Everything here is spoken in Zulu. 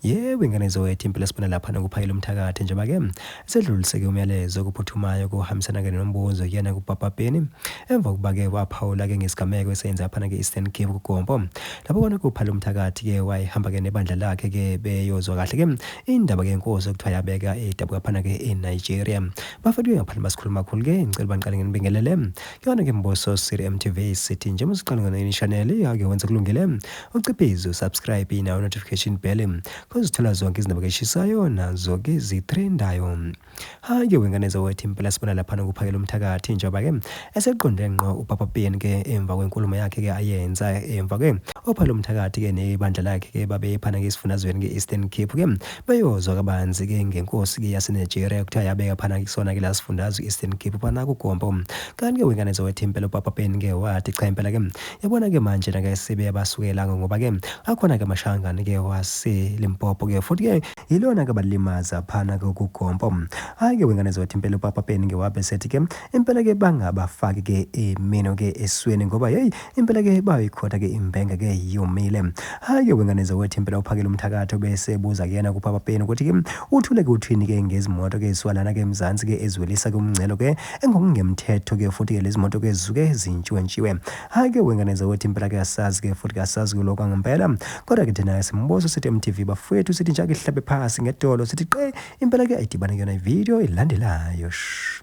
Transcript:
Yebo ingane zowethu impela sibona lapha nokuphayela umthakathi njengoba ke sedluliseke umyalezo okuphuthumayo kuhambisana ke nombuzo kuyena kuPapa Penny emva kokuba ke waphawula ke ngesigameko esenze aphana ke Eastern Cape kuGompo lapho kona kuphala umthakathi ke wayehamba ke nebandla lakhe ke beyozwa kahle ke indaba ke inkosi okuthiwa yabeka edabuka phana ke eNigeria bafethu ngaphandle basikhuluma kakhulu ke ngicela bangiqale nginibingelele kuyona ke mbuso Siri MTV sithi njengoba siqala ngona inishanele yake wenze kulungile Uciphize usubscribe nawo notification bell kozithola zonke izindaba keshisayo nazo ke zitrendayo. Hake wengane zawethi impela sibona lapha nokuphakela umthakathi njengoba ke eseqonde ngqo uPapa PN ke emva kwenkulumo yakhe ke ayenza emva ke ophala umthakathi ke nebandla lakhe ke babephana ke isifundazweni ke Eastern Cape ke beyozwa kabanzi ke ngenkosi ke yaseNigeria kuthiwa yabeka phana kusona ke lasifundazwe Eastern Cape phana kugombo. Kanti ke wengane zawethi impela uPapa PN ke wathi cha impela ke Yabona ke manje na ke sebe abasukelanga ngoba ke akhona ke amashangane ke wase Limpopo ke futhi ke yilona ke balimaza phana ke ukugompo. Hayi ke wengane zothi impela uPapa Peni ke wabe sethi ke impela ke bangabafaki ke imino ke esweni ngoba hey impela ke bayikhotha ke imbenga ke yomile. Hayi ke wengane zothi impela uphakele umthakatho bese buza kuyena kuPapa Peni ukuthi ke uthule ke uthini ke ngezimoto ke swalana ke eMzansi ke ezwelisa ke umngcelo ke engokungemthetho ke futhi ke lezi moto ke zuke zintshiwentshiwe hhayi ke wengane zakwethu impela ke asazi ke futhi ke asazi kuloko angempela kodwa ke thina simbuzo sithi mtv bafowethu sithi njake ihlabe phasi ngedolo sithi qe impela ke ayidibane kuyona ividiyo elandelayo shh